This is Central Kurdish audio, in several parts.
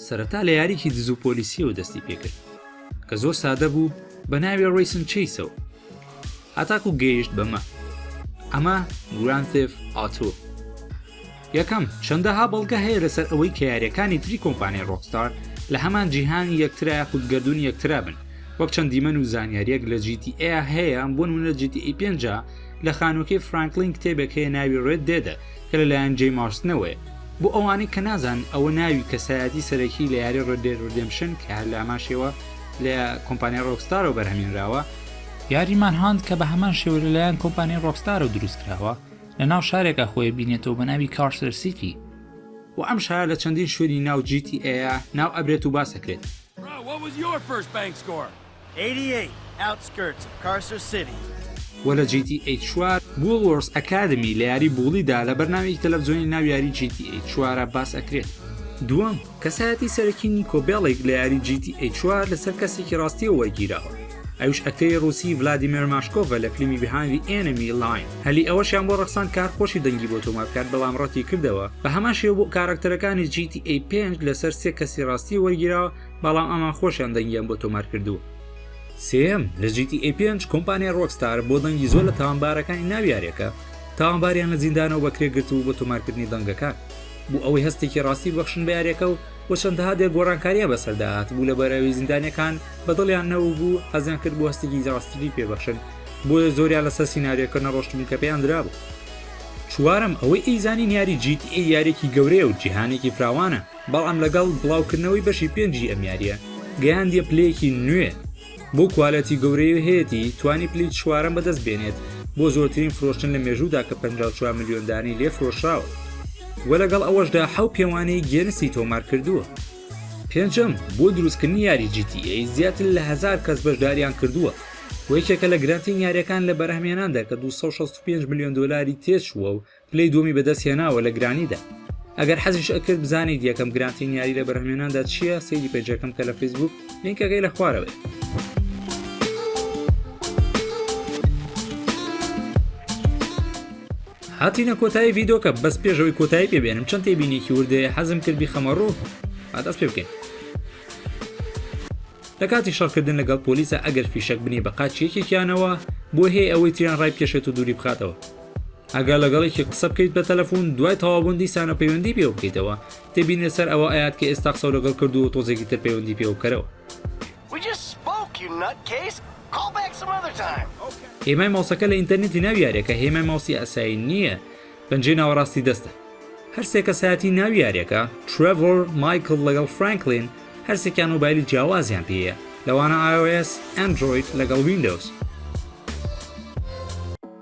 سەرەتا لە یاریکی دزو پۆلیسیەوە دەستی پێکرد کە زۆر سادە بوو بە ناوێ ڕیسن چیسەوە هەتاکو گەیشت بەمە ئەمە گرانتف ئاتۆ یەکەم، چەندەها بەڵگە هەیە لەسەر ئەوەی کە یاریەکانی تری کۆمپانیای ڕۆکستار لە هەمان جیهانی یەکترا یاخود گەردوونی یەکترا بن، وەک چەند دیمەن و زانیاریەک لە جی تی ئێ هەیە بۆ نموونە لە جی تی ئێ پێنجا لە خانووەکەی فرانکلین کتێبێک هەیە ناوی ڕێد دێدە کە لە لایەن جەی مارستنەوەیە. بۆ ئەوانەی کە نازانن ئەوە ناوی کەسایەتی سەرەکی لە یاری ڕێد دێد ڕیدێمپشن کە هەر لە هەمان شێوە لە کۆمپانیای ڕۆکستارەوە بەرهەمهێنراوە، یاری مانهانت کە بە هەمان شێوە لە لایەن کۆمپانیای ڕۆکستارەوە دروست کراوە، لە ناو شارێکا خۆی بینێتەوە بە ناوی کارسەر سیتی. وە ئەم شارە لە چەندین شوێنی ناو جی تی ئەیە ناو ئەبرێت و باس ئەکرێت. وە لە جی تی ئەی چوار بوول وۆرس ئەکادمی لە یاری بووڵی دا لە بەرنامەیەکی تەلەفزۆنی ناو یاری جی تی ئەی چوارە باس ئەکرێت. دووەم. کەسایەتی سەرەکی نیکۆ بێڵیک لە یاری جی تی ئەی چوار لەسەر کەسێکی ڕاستیەوە وەرگیراوە ئەوش ئەکتەری ڕوسی ڤلادیمێر ماشکۆڤە لە فیلمی بهاندی ئێنمی لاین هەلی ئەوەشیان بۆ ڕەخسان کار خۆشی دەنگی بۆ تۆمار بکات بەڵام ڕەتی کردەوە بە هەمان شێوە بۆ کاراکتەرەکانی جی تی ئەی پێنج لەسەر سێ کەسی ڕاستی وەرگیراوە بەڵام ئەمان خۆشیان دەنگیان بۆ تۆمار کردووە سێم لە جی تی ئەی پێنج کۆمپانیای ڕۆکستار بۆ دەنگی زۆر لە تاوانبارەکانی ناو یاریەکە تاوانباریان لە زیندانەوە بەکرێ گرتوو بۆ تۆمارکردنی دەنگەکان بۆ ئەوەی هەستێکی ڕاستی ببەخشن بە یاریەکە و و چەندەها دێ گۆڕانکاریان بەسەردا هاتبوو لە بەرەوی زیندانیەکان بە دڵیان نەوبوو حەزیان کرد بۆ هەستێکی ڕاستیی پێبەخشن بۆیە زۆریان لەسەر سینناریەکە نەڕۆشتبوو کە پێیان درابوو چوارم ئەوەی ئەیزانین یاری جیت ئەی یارێکی گەورەیە و جیهانێکی فراوانە بەڵام لەگەڵ بڵاوکردنەوەی بەشی پێنجی ئەم یاریە گەیاندیە پلەیەکی نوێ بۆ کوالێتی گەورەی و هەیەتی توانی پلی چوارەم بەدەست بێنێت بۆ زۆرترین فرۆشتن لە مێژوودا کە 54 ملیۆن دانی لێ فرۆشراوە و لەگەڵ ئەوەشدا حەو پێوانەی گێنسی تۆمار کردووە پێنجەم بۆ دروستکردنی یاری GTA زیاتر لە هزار کەس بەشداریان کردووە و یەکێکە لە گرانترین یاریەکان لە بەرهەمێناندا کە 265 ملیۆن دلاری تێچووە و پلەی دووەمی بەدەست هێناوە لە گرانیدا ئەگەر حەزیش ئەکرد بزانیت یەکەم گرانتین یاری لە بەرهمێناندا چییە سەیری پێجەکەم کە لە فیسبوک لینکەکەی لە خوارەوەی هاتینە کۆتایی ڤیدۆکە بەس پێشەوەی کۆتایی پێبێنم چەند تێبینێکی وردەیە حەزم کردی خەمەڕوو ئادەست پێ بکەین لە کاتی شەڕکردن لەگەڵ پۆلیسە ئەگەر فیشەک بنی بە قاچ یەکێکیانەوە بۆ هەیە ئەوەی تریان ڕای بکێشێت و دووری بخاتەوە ئەگەر لەگەڵ یەکێک قسە بکەیت بە تەلەفون دوای تەوابوون دیسانە پەیوەندی پێوە بکەیتەوە تێبینە سەر ئەوە ئەیات کە ئێستا قسەو لەگەڵ کردووە و تۆزێکی تر پەیوەندی پێوە بکەرەوە. هێمای ماوسەکە لە ئینتەرنێتی ناوی یاریەکە هێمای ماوسی ئاسایی نییە پەنجەی ناوەڕاستی دەستە. هەرسێ کەسایەتی ناوی یاریەکە، ترێڤۆر، مایکڵ لەگەڵ فرانکلین، هەرسێکیان مۆبایلی جیاوازیان پێیە، لەوانە ئای ئۆ ئێس، ئەندرۆید لەگەڵ ویندۆز.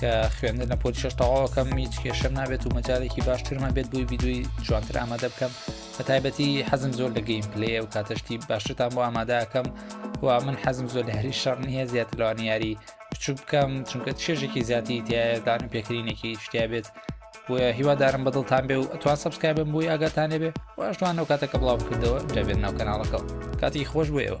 کە خوێندن لە پۆلی شش تەواوەکەم هیچ کێشەم نابێت و مەجارێکی باشترمان بێت بووی ویددیوی جوانتر ئامادە بکەم بە تایبەتی حەزم زۆر لە گەیم پلێ و کاتەشتی باشتان بۆ ئامادەکەم و من حەزم زۆر لە هەری شەڕ نییە زیاتر لەوانی یاری بچوو بکەم چونکە چێژێکی زیاتی تایدان و پێکرینێکی شتیا بێت بۆیە هیوادارم بەدڵتان بێ و ئەتوان سبسکایبم بووی ئاگاتانێ بێ واشتوان نەو کاتەکە بڵاو کردەوە دەبێت ناو کەناڵەکەەوە کاتی خۆش بۆیەوە